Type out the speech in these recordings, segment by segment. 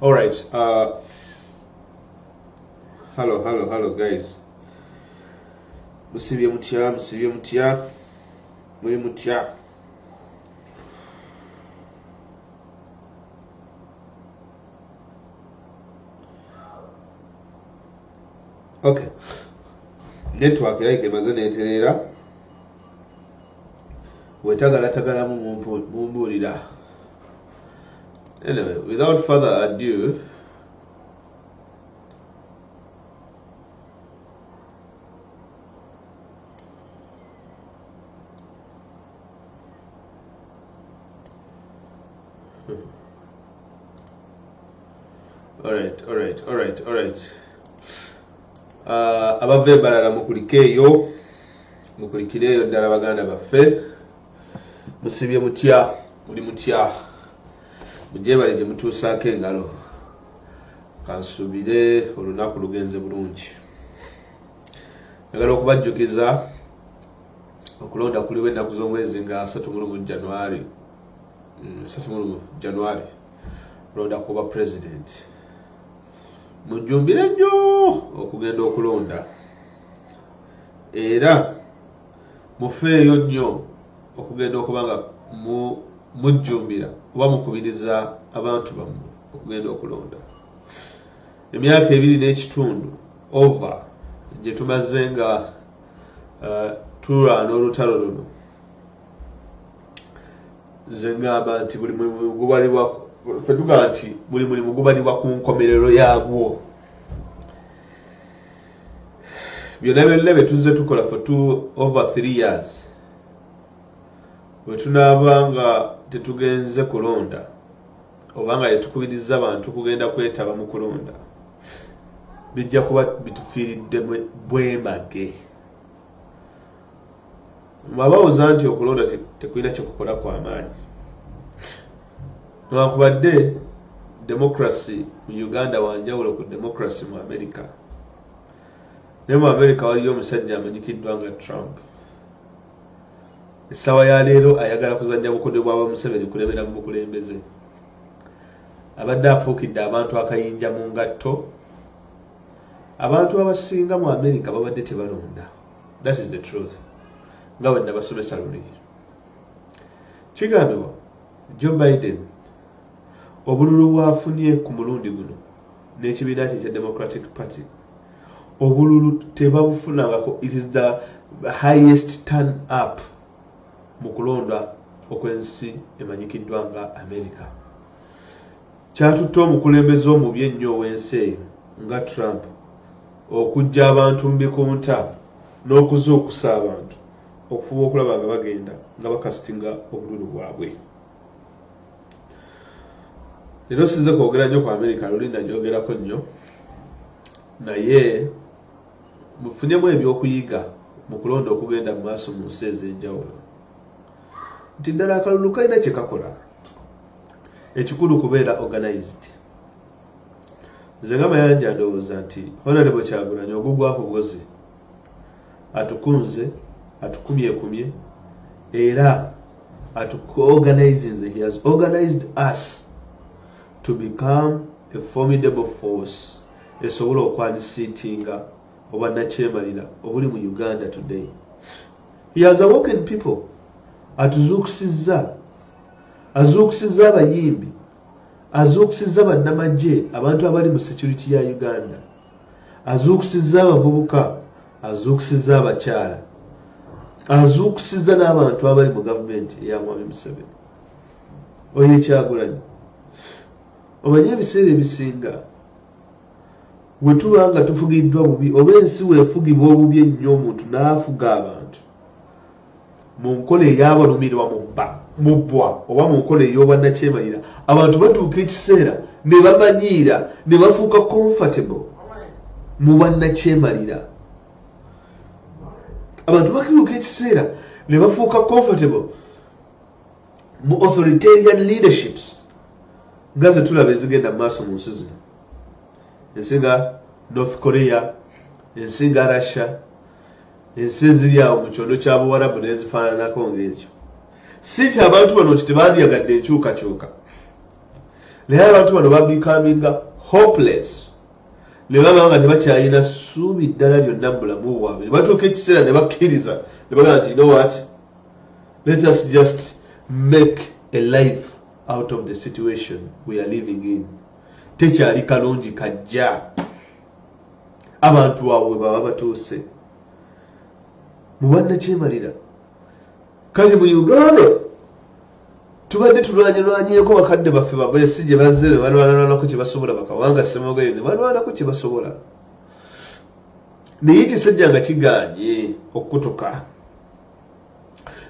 all right uh, hello hello hello guys musibye mutya musibye mutya muli mutya okay network like emaze netereera wetagalatagalamu mumbuulira anyway without further ado alright alright alright alright uh, abava ebalala mukulike eyo mukulikire eyo ddala baganda baffe musibye mutya muli mutya mugyebale gye mutuusaako engalo kansuubire olunaku lugenze bulungi njagala okubajjukiza okulonda kuliwo ennaku z'omwezi nga 31 januari 31 mm, januari kulonda kuba pulezidenti mujjumbire nnyo okugenda okulonda era mufeeyo nnyo okugenda okuba nga mujjumbira oba mukubiriza abantu bammwe okugenda okulonda emyaka ebiri n'ekitundu ova gye tumaze nga uh, tulwana olutalo luno nze ngamba nti buli mulimu gubalibwa fetugamba nti buli mulimu gubalibwa ku nkomerero yagwo byonna byonna bye tuzze tukola for two over three years bwe tunaaba nga tetugenze kulonda oba nga tetukubirizza bantu kugenda kwetaba mu kulonda bijja kuba bitufiiridde bwemage mwabawoza nti okulonda tekulina kyekukola kwa maanyi newakubadde democracy mu uganda wanjawulo ku democracy mu america naye mu america waliyo omusajja amanyikiddwa nga trump Essawa ya leero ayagala kuzannya bukodyo bwa ba Museveni kulebera mu bukulembeze. Abadde afuukidde abantu akayinja mu ngatto. Abantu abasinga mu Amerika babadde tebalonda. That is the truth. Nga bwe nabasomesa luli. Kigambibwa Joe Biden obululu bwafunye ku mulundi guno n'ekibiina kye ekya Democratic Party obululu tebabufunangako it is the highest turn up mu kulonda okwensi emanyikiddwa nga america kyatutte omukulembeze omubi ennyo ow'ensi eyo nga trump okujja abantu mu bikunta n'okuzuukusa abantu okufuba okulaba nga bagenda nga bakasitinga obululu bwabwe leero sinze kwogera nnyo ku amerika luli najogerako nnyo naye mufunemu ebyokuyiga mu kulonda okugenda mu maaso mu nsi ez'enjawulo nti ddala akalulu kalina kye kakola ekikulu kubeera organized nze nga mayanja ndowooza nti honarebo kyagulanyi ogugwako bwozi atukunze atukumyekumye era atuorganizinze he has organized us to become a formidable force esobola okwanisiitinga obwannakyemalira obuli mu uganda today he has awoken people atuzuukusizza azuukusizza abayimbi azuukusizza bannamagye abantu abali mu security ya uganda Azuukusizza abavubuka, azuukusizza abakyala, azuukusizza n'abantu abali mu gavumenti eya Mwami Museveni. Oyo ekyagulanyi omanyi ebiseera ebisinga we tuba nga tufugiddwa bubi oba ensi wefugibwa obubi ennyo omuntu n'afuga abantu Mu nkola ey'abalumirwa mu bba, mu bbwa oba mu nkola ey'obwannakyemalira, abantu batuuka ekiseera ne bamanyiira ne bafuuka comfortable mu bwannakyemalira. Abantu bakiruka ekiseera ne bafuuka comfortable mu authoritarian leaderships nga ze tulaba ezigenda mu maaso mu nsi zino, ensi nga North Korea, ensi nga Russia, Ensi eziri awo mu kyondo kya Buwarabu n'ezifaananako ng'ekyo. Si nti abantu bano nti tebandyagadde enkyukakyuka, naye abantu bano babikaminga hopeless ne baba nga tebakyalina ssuubi ddala lyonna mu bulamu bwabwe ne batuuka ekiseera ne bakkiriza ne bagamba nti no wat let us just make a life out of the situation we are living in tekyali kalungi kajja abantu awo we baba batuuse mubanakyemalira kati mu uganda tubadde tulwanyalwanyeko bakadde baffe babesi gye bazze ne balwanalwanako kye basobola bakawanga semogere ne balwanako kye basobola naye ekisajja nga kiganye okukutuka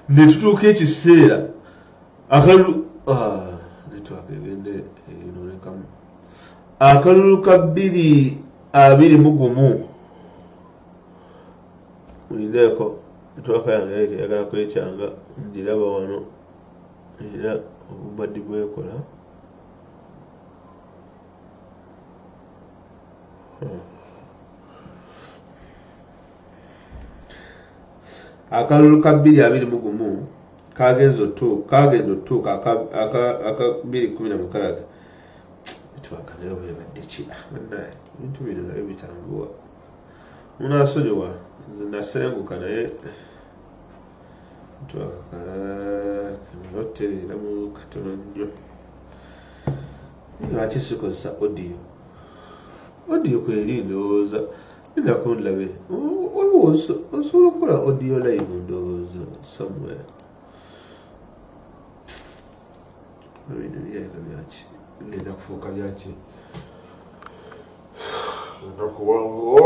ne tutuuka ekiseera akalu ah, netwakegendeenolekamu akalulu ka bbiri abiri mu gumu mulindeeko netwaka yange leke yagala kwekyanga ngiraba wano era obubadi bwekola hmm. akalulu ka bbiri abiri mu gumu kagenza otuuka kagenda otuuka aka bbiri kumi na mukaaga bitwaka naye webadde ki ah, banaye ebintu bino naye bitambuwa munasonyiwa nasenguka naye twakakanoterera mu katono nnyo lwaki sikozesa audio audio kweri ndowooza ndako ndlabe waliwo osobola okukola audio live ndowooza somewhere Bino biyinza byaki bigenda kufuuka byaki olunaku wanguwo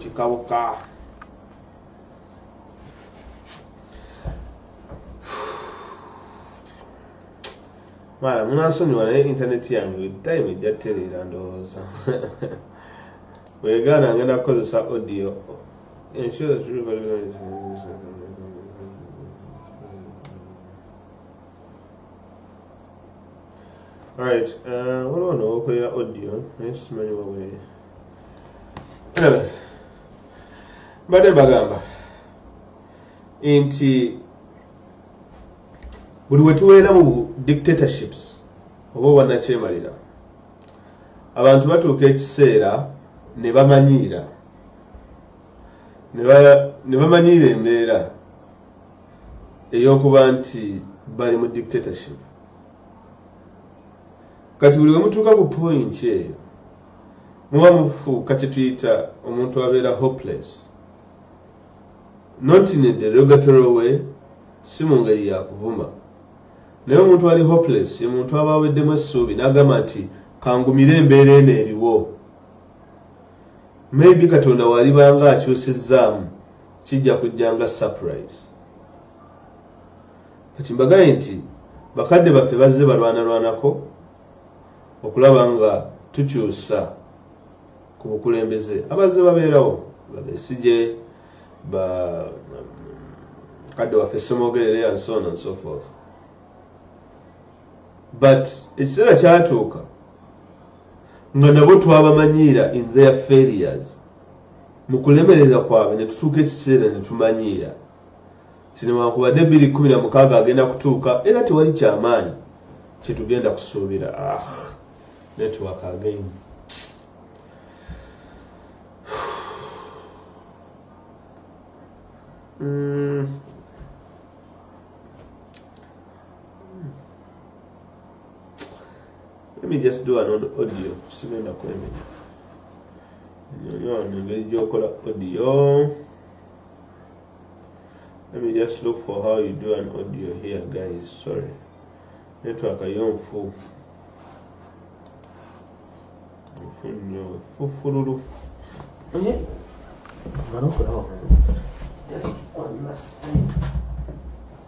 kikawuka mara munansonyiwa naye intaneti yange buli time ejja tereera ndowooza wegaana ngenda kukozesa audio ensure Alright, uh, what do I know? Okay, audio. Yes, many way. Anyway, but the bagamba nti buli wetuweera mu dictatorships oba obwanakyemalira abantu batuuka ekiseera ne bamanyiira ne bamanyiira embeera eyokuba nti bali mu dictatorship kati buli wemutuuka ku point eyo muba mufuuka kyetuyita omuntu abeera hopeless not in a derogatory way si mu ngeri yakuvuma naye omuntu ali hopeless ye muntu aba aweddemu essuubi n'agamba nti kangumire embeera eno eriwo maybe katonda walibanga akyusizzaamu Kijja kujja nga surprise. Kati mbagaye nti bakadde baffe bazze balwanalwanako okulaba nga tukyusa ku bukulembeze abazze babeerawo babesije ba kadde waffe semogerere and so on and so forth but ekiseera kyatuuka nga nabo twabamanyiira in their failures Mu kulemererwa kwabwe ne tutuuka ekiseera ne tumanyiira nti newankubadde bbiri kkumi na mukaaga agenda kutuuka era tewali kya maanyi kye tugenda kusuubira. Ah, network again. Mm. Let me just do an audio. Sigenda kwemenya. Nyono ngeri gyokola audio. Let me just look for how you do an audio here guys. Sorry. Network ayonfu. Mfunyo fufululu. Eh? Mano kulaba. Just one last time.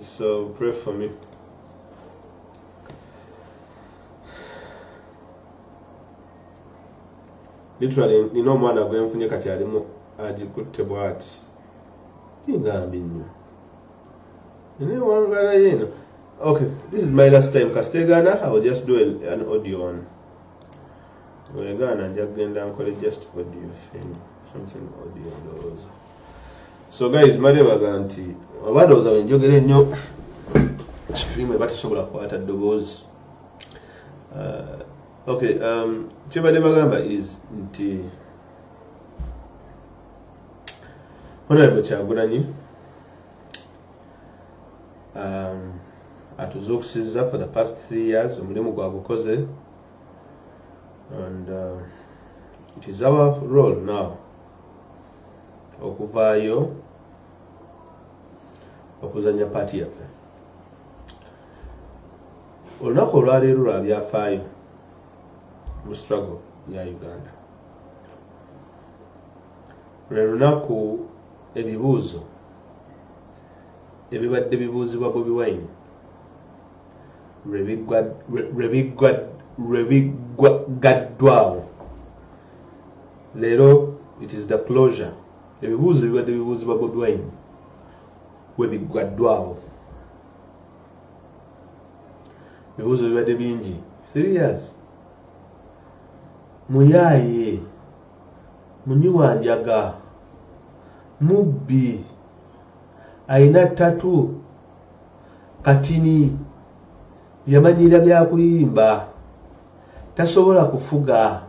So pray for me. literally nina omwana gwenfunye kati alimu agikutte bwati tingambi nnyo naye wangala yeeno okay this is my last time kastegana i will just do an audio one wegaana nja kugenda nkole just audio thing something audio ndowooza so guys mali baga nti oba ndowooza wenjogera ennyo stream eba tesobola kukwata ddoboozi uh, ok um, kyebadde bagamba is nti honorable kyagulanyi um, atuzuukusiza for the past three years omulimu gwagukoze and uh, it is our role now okuvaayo okuzanya paati yaffe olunaku olwaleero lwa byafaayo mu struggle ya uganda lwe lunaku ebibuuzo ebibadde bibuuzibwa bobi wine lwebiggaddwawo leero it is the closure ebibuuzo bibadde bibuuzibwa bodwine webiggwaddwawo ebibuuzo bibadde bingi three years muyaaye munywi wa njaga mubbi alina tatu katini yamanyira byakuyimba tasobola kufuga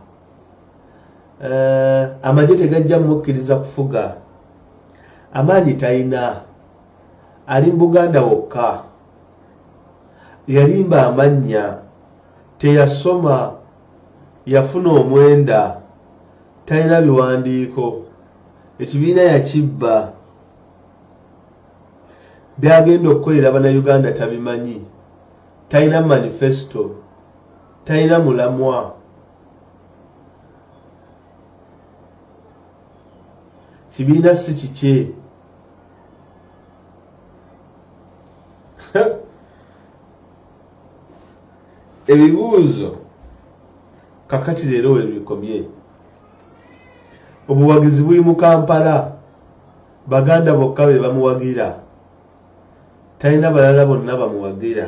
eh, amagye tegajja mukkiriza kufuga amaanyi talina ali mu buganda wokka yalimba amannya teyasoma yafuna omwenda talina biwandiiko ekibiina yakibba Byagenda okukolera bana Uganda tabimanyi. Talina manifesto. Talina mulamwa. Kibiina si kikye. Ebibuuzo kakati leero webikomye. Obuwagizi buli mu Kampala. Baganda bokka be bamuwagira. Talina balala bonna bamuwagira.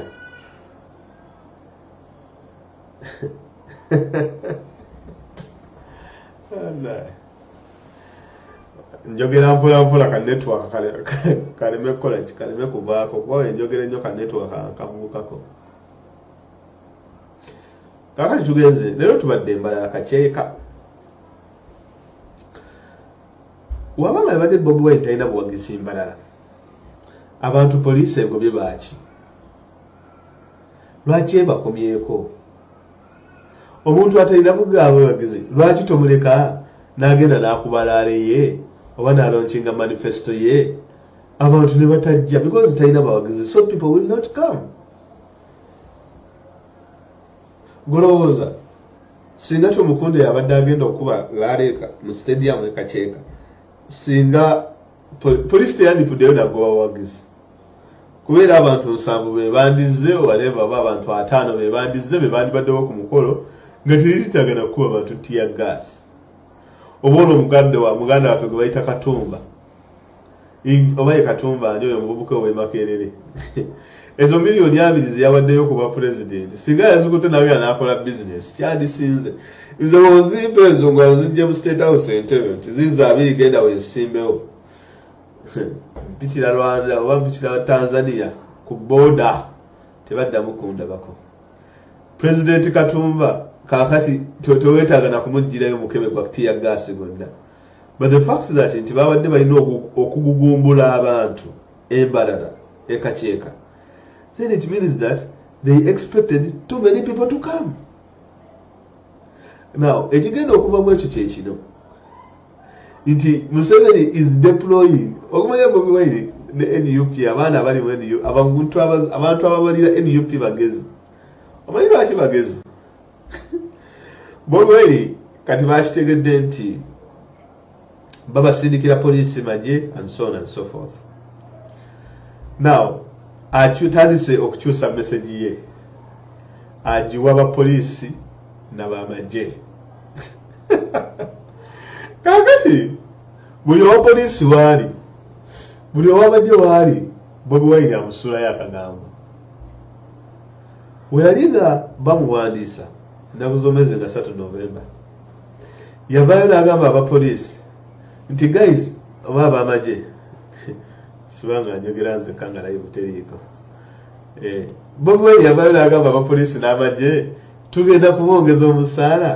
njogera mpolampola ka network kaleme kukola ki kaleme kuvaako kuba wenjogera ennyo ka network kavuukako kakati tugenze leero tubadde embalala kakyeka wabanga abadde bobi wine talina buwagizi mbalala abantu poliisi egobye baaki lwaki ebakomyeko omuntu atalina bugabuwagizi lwaki tomuleka n'agenda n'akubalaale ye oba nalonkinga manifesto ye abantu ne batajja because talina bawagizi so people will not come Golowooza singa Tumukunde yabadde agenda okukuba laaleeka mu stadium e Kakyeka, singa poliisi teyandifuddeyo nagoba bawagizi kubeera abantu nsanvu be bandizze owareeva oba abantu ataano be bandizze be bandibaddewo ku mukolo nga teritagana kukuba bantu tiya gaasi oba olwo omuganda waffe gwe bayita katumba oba ye katumba ani oyo omuvubuka ow'e makerere ezo miliyoni abiri ze yawaddeyo ku bwa pulezidenti singa yazikutte nayo yanaakola bizinesi kyadisinze nze wozimpa ezo nga nzijje mu state house entebe nti ziiza abiri genda weesimbewo mpitira rwanda oba mpitira tanzania ku booda tebaddamu kundabako pulezidenti katumba kaakati tewetaaga na kumuggyirayo mukebe gwa kutiya gaasi gonna But the fact that nti babadde balina okugugumbula abantu embalala ekakyeka then it means that they expected too many people to come now ekigenda okuva mu ekyo kyekino nti museveni is deploying okumanya bobi wine ne nup abaana abali mu nup abantu ababalira nup bagezi omanyi lwaki bagezi bobweri kati bakitegedde nti babasindikira poliisi magye and so on and so forth now akyutandise okukyusa mesegi ye agiwa bapoliisi nabamagye kakati buli owa poliisi waali buli owamagye waali bobi wayini amusulayo akagambo Bwe yali nga bamuwandiisa nnaku z'omwezi nga satu Novemba, yavaayo n'agamba abapoliisi nti guys oba ab'amagye sibanga njogera nzekka nga naye buteriiko eh, bobi wine yavaayo n'agamba abapoliisi n'amagye tugenda kubongeza omusaala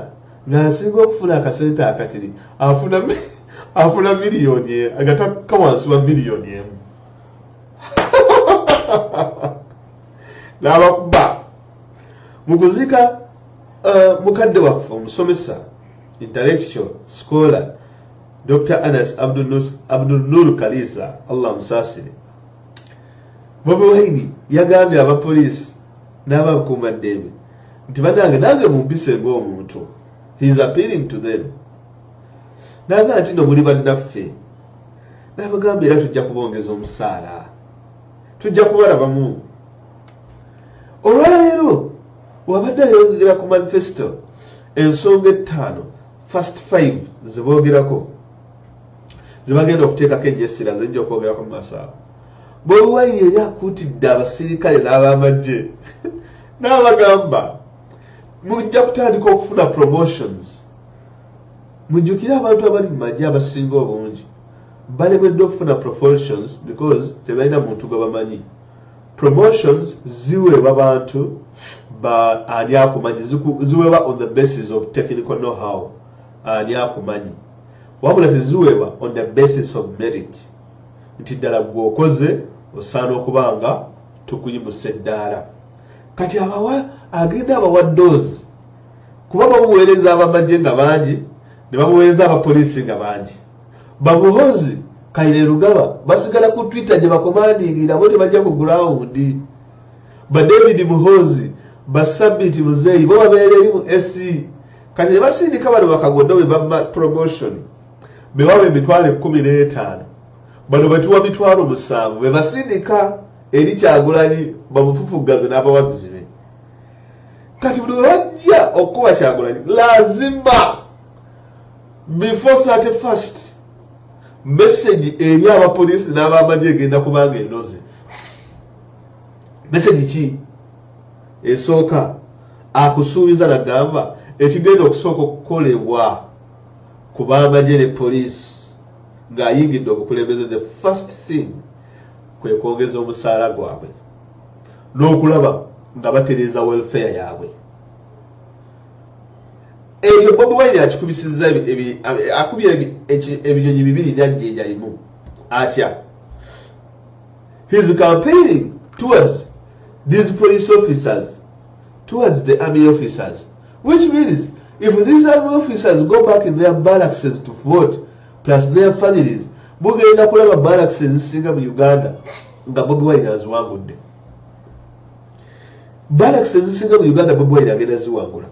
ng'asinga okufuna akasente akatiri afuna afuna miliyoni e, agatakka wansi wa miliyoni emu n'abakuba mu kuziika uh, mukadde waffe omusomesa intellectual scholar dr anas abdul nur kaliisa allah musaasire bobi waini yagambye abapoliisi n'abakuuma ddembe nti banange nange mumpise ng'omuntu he is appealing to them naga nti no muli bannaffe n'abagamba era tujja kubongeza omusaala tujja kubalaba mungu olwaleero wabadde ayongera ku manifesto ensonga ettaano first five zeboogerako zebagenda okuteekako enjesira zeyinja okwogerako mu maaso abo bobiwaini yali akuutidde abasirikale n'abamagye n'abagamba mujja kutandika okufuna promotions mujjukire abantu abali mu magye abasinga obungi balemeddwa okufuna proportions because tebalina muntu gwe bamanyi promotions ziweebwa bantu ba ani akumanyi ziweebwa on the basis of technical know how ani akumanyi wabula teziweebwa on the basis of merit nti ddala gwe okoze osaana okuba nga tukuyimusa eddaala kati abawa agenda abawa doozi kuba bamuweereza abamagye nga bangi ne bamuweereza abapoliisi nga bangi bamuhozi kaire lugaba basigala ku twitter gye bakomandingira bo tebajja ku gurawundi ba david muhozi basabiti muzeeyi bo babeera eri mu ac kati ne basindika bano bakagodo be baba promotion bebawa emitwalo ekkumi n'etaano bano betuwa mitwalo musanvu be basindika eri kyagulanyi bamufufuggaze n'abawagizi be kati buli webajja okukuba kyagulanyi lazima Before 31st, message eri abapoliisi n'abamagye egenda kubanga enoze. Message ki esooka akusuubiza nagamba ekigenda okusooka okukolebwa ku bamagye ne poliisi ng'ayingidde obukulembeze the first thing kwe kwongeza omusaala gwabwe n'okulaba nga batereeza welfare yaabwe. ekyo bobi wine akikubisiza akubye ebinyonyi bibiri nyajjinja limu atya his campaigning towards these police officers towards the army officers which means if these army officers go back in their barrackses to vote plus their families mugenda kulaba barracks ezisinga mu uganda nga bobi wine aziwangudde Galaxy ezisinga mu Uganda Bobi Wine agenda ziwangula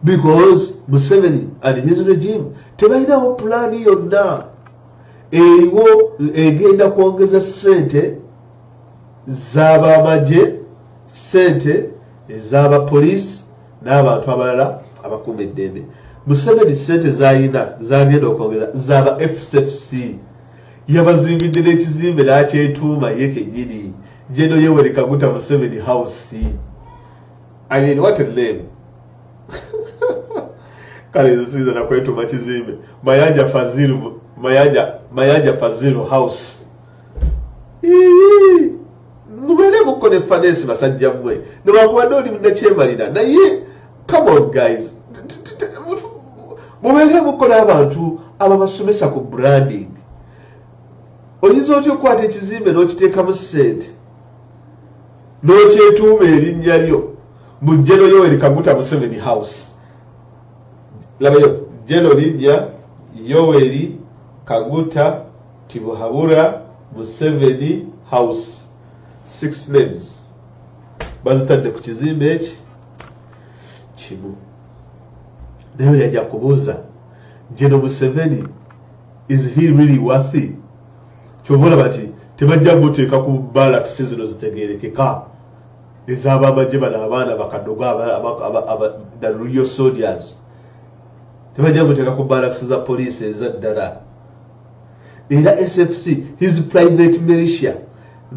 because Museveni and his regime tebalinawo pulaani yonna eriwo egenda kwongeza ssente z'abamagye ssente ez'abapoliisi n'abantu abalala abakuuma eddembe Museveni ssente z'alina z'agenda okwongeza z'aba FCFC yabazimbidde n'ekizimbe n'akyetuuma ye kennyini jeno yeweri kaguta museveni house i mean what a name kale nze siyinza nakwetuma kizimbe mayanja fazilu mayanja mayanja fazilu house mubeere mukko ne fanesi basajja mmwe newakubadde oli munakyemalira naye come on guys mubeere mukola abantu ababasomesa ku branding oyinza otya okukwata ekizimbe n'okiteekamu sente n'okyetuuma erinnya lyo mu jeno yoweri kaguta museveni house labayo jeno linnya yoweri kaguta tibuhabura museveni house six names bazitadde ku kizimbe eki kimu naye yajja kubuuza jeno museveni is he really worthy kyova olaba nti tebajja kuteeka ku balakisi zino zitegerekeka ezabamagye bano abaana bakadogo dalulyo soldiers tebajja kuteeka ku balakisi za poliisi ezaddala era sfc his private militia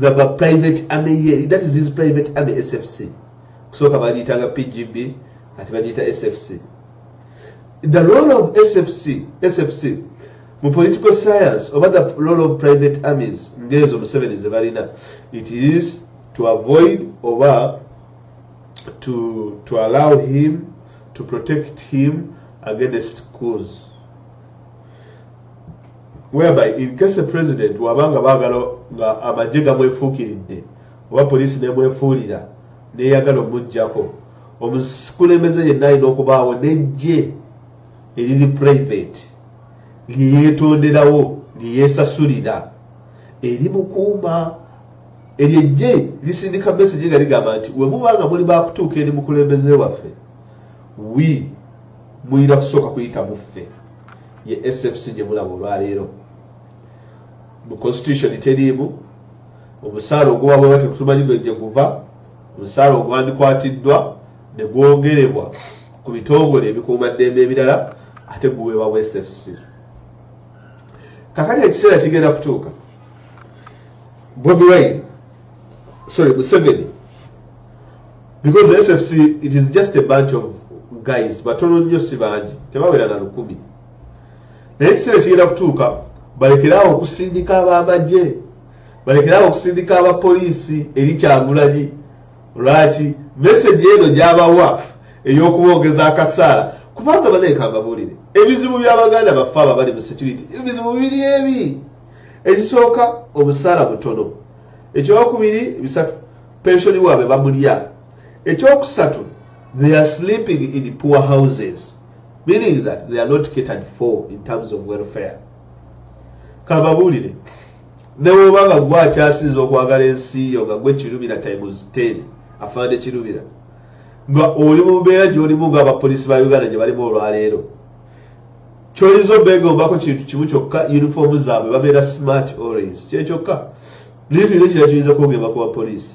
the private army that is his private army sfc kusooka bagiyitanga pgb ati bagiyita sfc the role of sfc sfc mu political science oba the role of private armies ngeezo museveni zebalina it is to avoid oba to, to allow him to protect him against cause whereby in case a president wabanga bagala nga amagye gamwefuukiridde oba poliisi n'emwefuulira n'eyagala omuggyako, omukulembeze yenna alina okubaawo n'eggye eriri purayiveti lye yeetonderawo lye yeesasulira erimukuuma. Eryo eggye lisindika mesegi nga ligamba nti we muba nga muli baakutuuka eri mukulembeze waffe wi mulina kusooka kuyita mu ffe ye SFC gye mulaba olwaleero mu constitution teriimu omusaala oguba bweba tetumanyi gwe gye guva omusaala ogwandikwatiddwa ne gwogerebwa ku bitongole ebikuumaddembe ebirala ate guweebwa bw sfc kakati ekiseera kigenda kutuuka bobi wine sorry museveni because sfc it is just a bunch of guys batono nnyo si bangi tebawera na lukumi naye ekiseera kigenda kutuuka balekeraawo okusindika abamagye balekeraawo okusindika abapoliisi eri kyagulanyi lwaki meseji eno gyabawa ey'okubongeza akasaala kubanga banaeka mbabuulire ebizibu by'abaganda baffe abo abali mu security ebizibu biri ebi ekisooka omusaala mutono ekyokubiri bisatu pensioni waabwe bamulya ekyokusatu they are sleeping in poor houses meaning that they are not catered for in terms of welfare kababuulire newoba nga gwe akyasinza okwagala ensi yo nga gwe kirubira times 10 afande kirubira nga oli mu mbeera gyolimu nga abapolisi ba uganda gye balimu olwaleero kyoyinza obeegombako kintu kimu kyokka uniform zaabwe babeera smart orange kyekyokka naye tulina ekira kiyinza kwogemba ku bapoliisi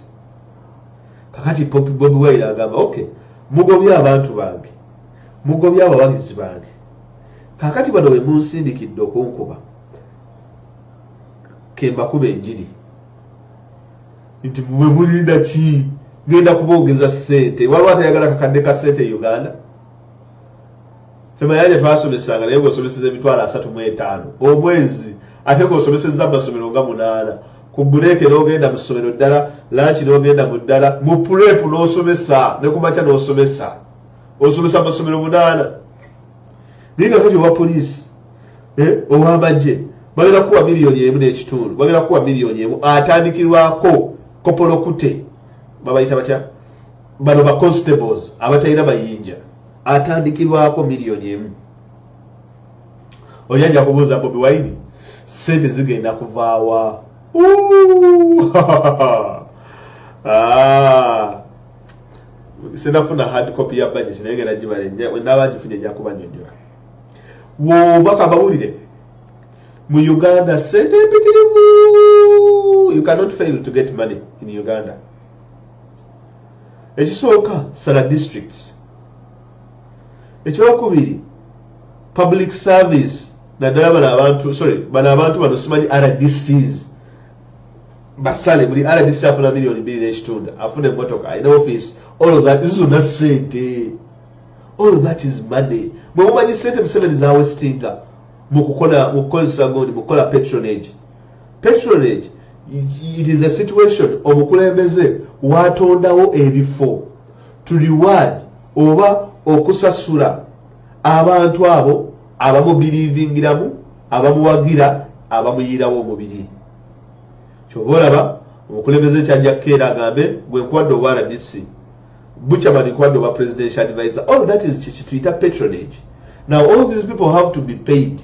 kakati popi bobi wire agamba ok mugobye abantu bange Mugobye abawagizi bange. Kakati bano be munsindikidde okunkuba. Kembakuba enjiri. Nti mwe mulinda ki? Ngenda kuboogeza ssente. Waliwo atayagala kakadde ka ssente e Uganda? Femayanja twasomesanga naye ng'osomeseza emitwalo asatu mu etaano omwezi ate ng'osomeseza amasomero nga munaana ku buleeke n'ogenda mu ssomero ddala lanki n'ogenda mu ddala mu puleepu n'osomesa ne ku makya n'osomesa. osomesa amasomero munaana naye nga kati owa poliisi eh, owamagye bagenda kuwa miliyoni emu n'ekitundu bagenda kuwa miliyoni emu atandikirwako kopolokute babayita batya bano ba constables abatalina mayinja atandikirwako miliyoni emu oyanja kubuuza bobi wine sente zigenda kuvaawa ah. sinafuna hard copy ya budget naye ngenda gibale naba ngifunye nja kubanyonyola wobaka bawulire mu uganda sente mpitirivu you cannot fail to get money in uganda ekisooka sala districts ekyokubiri public service naddala bano abantu sorry bano abantu bano simanyi rdcs basale buli rdc afuna miliyoni bbiri n'ekitundu afuna emmotoka alina office all of that zizona sente all of that is money bwe mumanyi sente museveni zawesitinga mukukozesa gundi mukukola patronage patronage it is a situation omukulembeze watondawo ebifo to reward oba okusasula abantu abo abamubiriivingiramu abamuwagira abamuyiirawo omubiri kyova olaba omukulembeze kyajja kukeera agambe gwe nkuwadde obwa rdc buchaman nkuwadde obwa presidential advisor all that is kyekituyita patronage now all these people have to be paid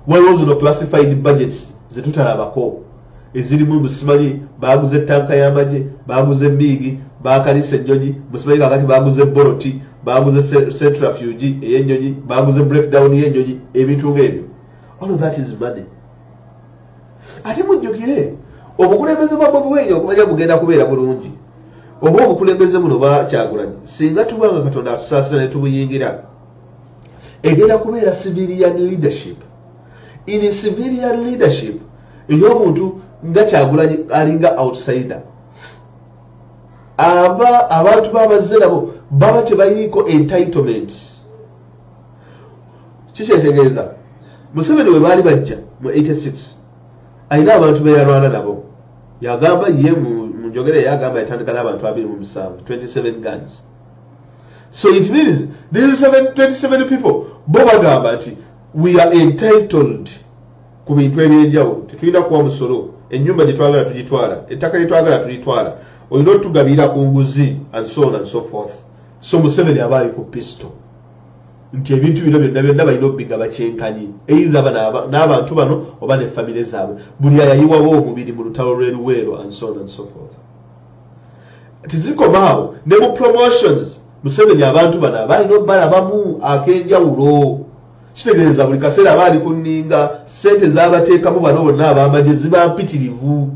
waliwo zino classified budgets zetutalabako ezirimu musimanyi baaguze ttanka y'amagye baaguze emmiigi baakalisa ennyonyi musimanyi kakati baaguze boloti baaguze centrafuge ey'ennyonyi baaguze breakdown y'ennyonyi ebintu ng'ebyo all that is money ate mujjukire obukulembeze bwa bobi wine okumanya bugenda kubeera bulungi oba obukulembeze buno bakyagulanyi singa tuba nga katonda atusaasira ne tubuyingira egenda kubeera civilian leadership in civilian leadership ey'omuntu nga kyagulanyi alinga outsider aba abantu babazze nabo baba tebayiriiko entitlement kikyetegeeza museveni we baali bajja mu 86 alina abantu beyalwana nabo yagamba ye mu njogera yagamba yatandika n'abantu abiri mu musanvu 27 guns so it means these 27 people bo bagamba nti we are entitled ku bintu ebyenjawulo tetulina kuwa musolo enyumba gyetwagala tugitwala ettaka lyetwagala tulitwala olina otugabiira ku nguzi and so on and so forth so museveni aba ali ku pisto nti ebintu bino byonna byonna balina obigaba kyenkanyi eitha n'abantu bano oba ne famire zaabwe buli ayayiwawo omubiri mu lutalo lweruweero and so on and so forth tezikomaawo ne mu promotions museveni abantu bano abalina obalabamu akenjawulo Kitegeeza buli kaseera aba ali ku nninga, ssente z'abateekamu bano bonna ab'amagye ziba mpitirivu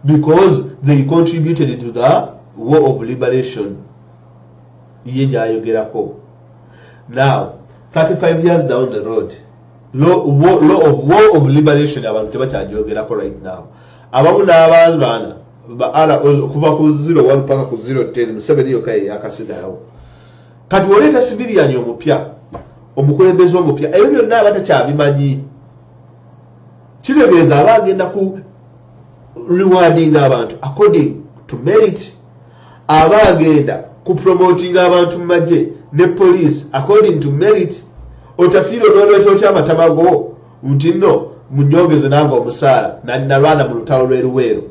because they contributed to the war of liberation ye gyayogerako now 35 years down the road law, war, law of, war of liberation abantu tebakyajogerako right now abamu n'abaana okuva ku 01 paka ku 010 museveni yokka yeyakasigalawo Kati oleeta civilian omupya, omukulembeze omupya, ebyo byonna aba takyabimanyi. Kitegeeza aba agenda ku rewarding abantu according to merit, aba agenda ku promoting abantu mu magye ne police according to merit. Otafiira onoleeta otya amatama go nti nno munyongeze nange omusaala nalwana mu lutalo lw'eruweero.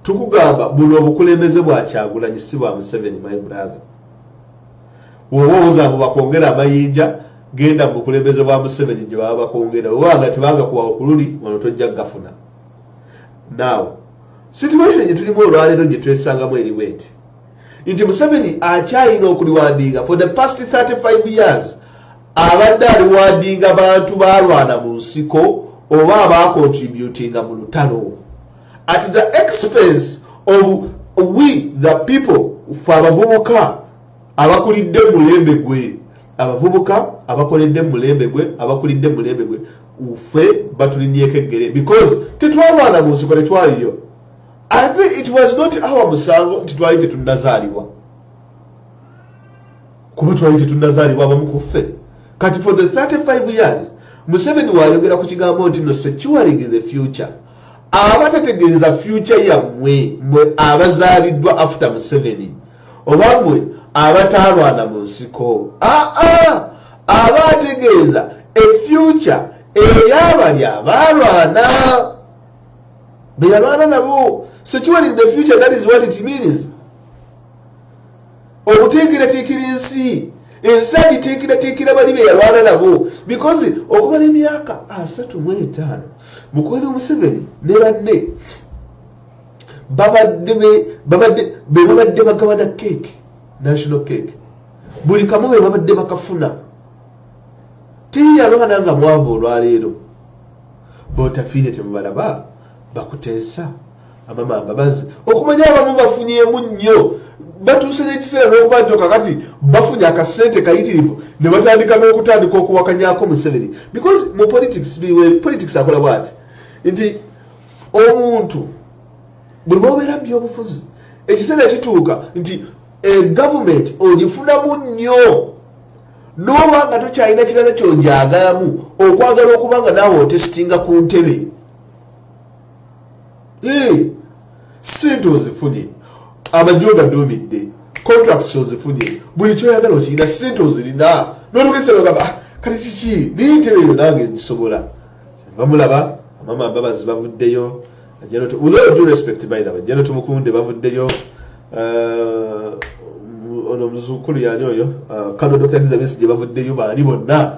Tukugamba buno obukulembeze bwa Kyagulanyi si bwa Museveni my brother. woba owoza mbu bakwongera amayinja genda mu bukulembeze bwa museveni gye baba bakwongera oba nga tebagakuwa okululi wano tojja gafuna now situation gye tulimu olwaleero gye twesangamu eri bweti nti museveni akyalina okuliwandiinga for the past 35 years abadde aliwandiinga bantu balwana mu nsiko oba abaakontributinga mu lutalo at the expense of we the people fe abavubuka abakulidde mulembe gwe abavubuka abakoledde mulembe gwe abakulidde mulembe gwe fe batulinyeko eggere because tetwalwana mu nsiko tetwaliyo ate it was not our musango nti twali tetunazaalibwa kuba twali tetunazaalibwa abamu ku ffe kati for the 35 years museveni wayogera ku kigambo nti no securing the future abatategeeza future yammwe mwe abazaaliddwa after museveni oba mwe abataalwana mu nsiko aa aba ategeeza efyuca eyabali abaalwana beyalwana nabo securing the future that is what it means obutiikiretiikira ensi ensi agitiikiretiikira bali be yalwana nabo bikozi okumala emyaka asatu mu etaano mukweno museveni ne banne babadde bebabadde bagabana keeke national keeke buli kamu be babadde bakafuna tiyalwana nga mwavu olwaleero botafiire temubalaba bakuteesa amama mbabazi okumanya abamu bafunyemu nnyo batuuse n'ekiseera n'okuba nti kakati bafunye akasente kayitirivu ne batandika n'okutandika okuwakanyako museveni because mu politics biwe politics akola bwati nti omuntu buli baobeera mu byobufuzi ekiseera kituuka nti egavumenti ogifunamu nnyo n'oba nga tokyalina kirala kyogyagalamu okwagala okuba nga naawe otesitinga ku ntebe sente ozifunye amagye ogaduumidde contracts ozifunye buli kyoyagala okirina sente ozirina nolugeseogamba ah, kati kiki naye ntebe eyo nange ngisobola bamulaba amama mbabazi bavuddeyo jeno tumukunde bavuddeyo uh, ono muzukulu yani oyo uh, kano dr elizabeth gye bavuddeyo baani bonna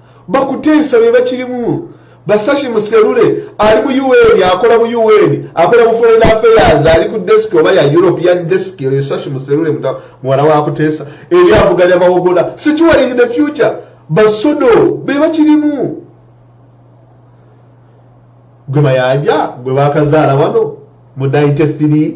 Bakuteesa be bakirimu. Basashi Muserure ali mu UN, akola mu UN, akola mu Foreign Affairs, ali ku desk oba ya European desk, oyo Sashi Muserure muwala wa Kuteesa, eri avuganya Mawogola. Securing the future, basodo be bakirimu. Gwe Mayanja, gwe bakazaala wano, mu 93,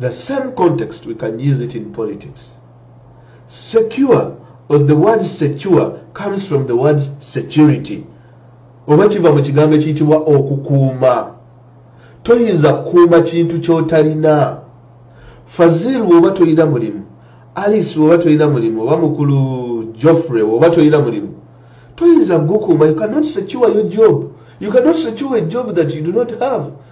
The same context we can use it in politics. Secure or the word secure comes from the word security. Oba kiva mu kigambo ekiyitibwa okukuuma. Toyinza kukuuma kintu ky'otalina. Fazil bw'oba tolina mulimu, Alice bw'oba tolina mulimu, oba mukulu Geoffrey bw'oba tolina mulimu, toyinza kugukuuma. You cannot secure your job. You cannot secure a job that you do not have.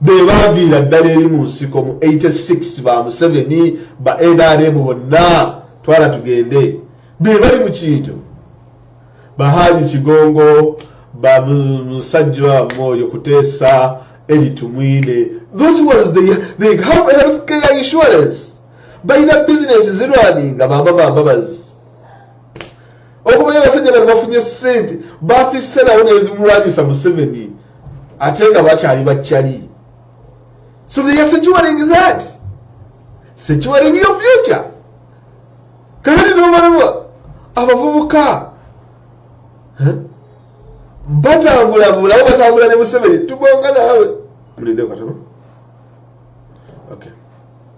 be baaviira ddala eri mu nsiko mu 86 ba museveni ba nrm bonna twala tugende be bali mu kinjo bahaaji kigongo bamusajja mwoyo kuteesa eritumwine those ones they, they have health care insurance balina bizinesi zirwaninga bamba bambabazi okumanyi abasajja bano bafunye sente bafissenawo nezimulwanyisa museveni ate nga bakyali bakyali so they are securing that securing your future kakati nomalaba abavubuka batambula bulawo batambula ne museveni tubonga naawe mulinde katono okay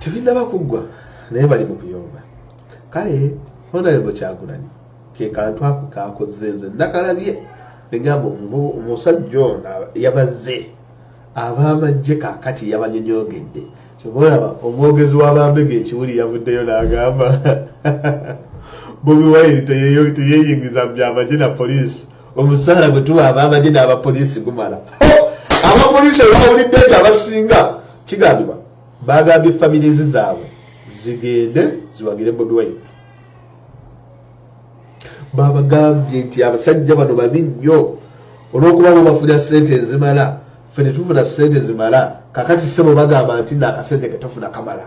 tebinaba kuggwa naye bali mu kuyomba kale honalebo kyagulanyi kekantu ako kakoze nze nakalabye negamba omusajja ono yabazze abamajje kakati yabanyonyogedde kyova olaba omwogezi wabambega ekiwuli yavuddeyo nagamba bobi wine teyeyingiza mu byamagye na poliisi omusaala gwe tuwa abamagye n'abapoliisi gumala abapoliisi olwawulidde nti abasinga kigambibwa bagambye familizi zaabwe zigende ziwagire bobi wine babagambye nti abasajja bano babi nnyo olwokuba bo bafuna sente ezimala fe netufuna sente zimala kakati sebo bagamba nti nakasente ketufuna kamala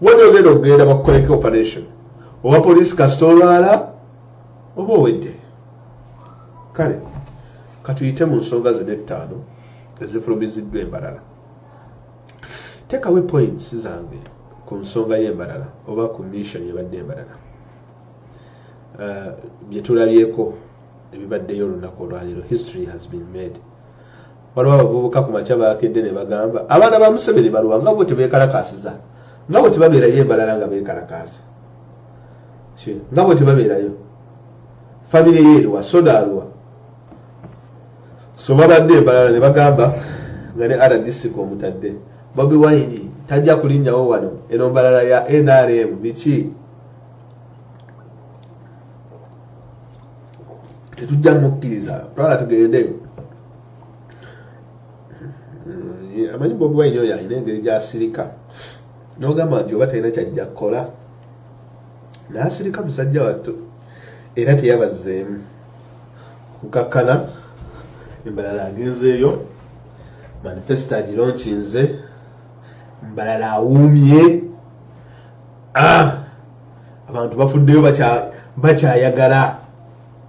wade ogenda okugenda bakukoleko operation oba poliisi kasita olwala oba owedde kale katuyite mu nsonga zino ettaano ezifulumiziddwa embalala tekawe points zange ku nsonga y'embalala oba ku mission ebadde embalala uh, byetulabyeko ebibaddeyo olunaku olwaliro history has been made waliwo abavubuka ku makya baakedde ne bagamba abaana ba museveni baluwa nga bo tebeekalakaasiza nga bwe tebabeerayo embalala nga beekalakaasa nga bwe tebabeerayo famire ye eriwa soda aluwa so babadde embalala ne bagamba nga ne rdc kwomutadde bobi wayini tajja kulinnyawo wano eno mbalala ya nrm biki tetujja mukkiriza twala tugendeyo mm, amanyi bobi wine oyo alina engeri gyasirika nogamba nti oba talina kyajja kukola nasirika musajja wattu era teyabazzeemu kukakkana embalala agenzeeyo manifesto agironkinze mbalala awuumye ah! abantu bafuddeyo bakyayagala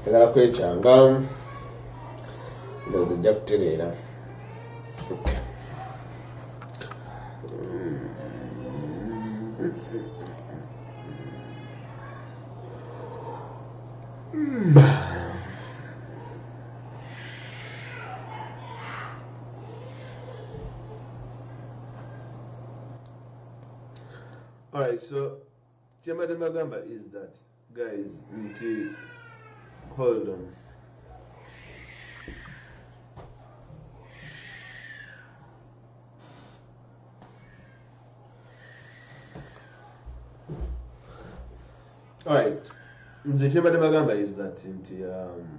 njagala kwekyanga ndowooza ojja kutereera All right, so Kyembadde mbagamba is that guys nti hold on Alright. Nze kyembadde bagamba is that nti um,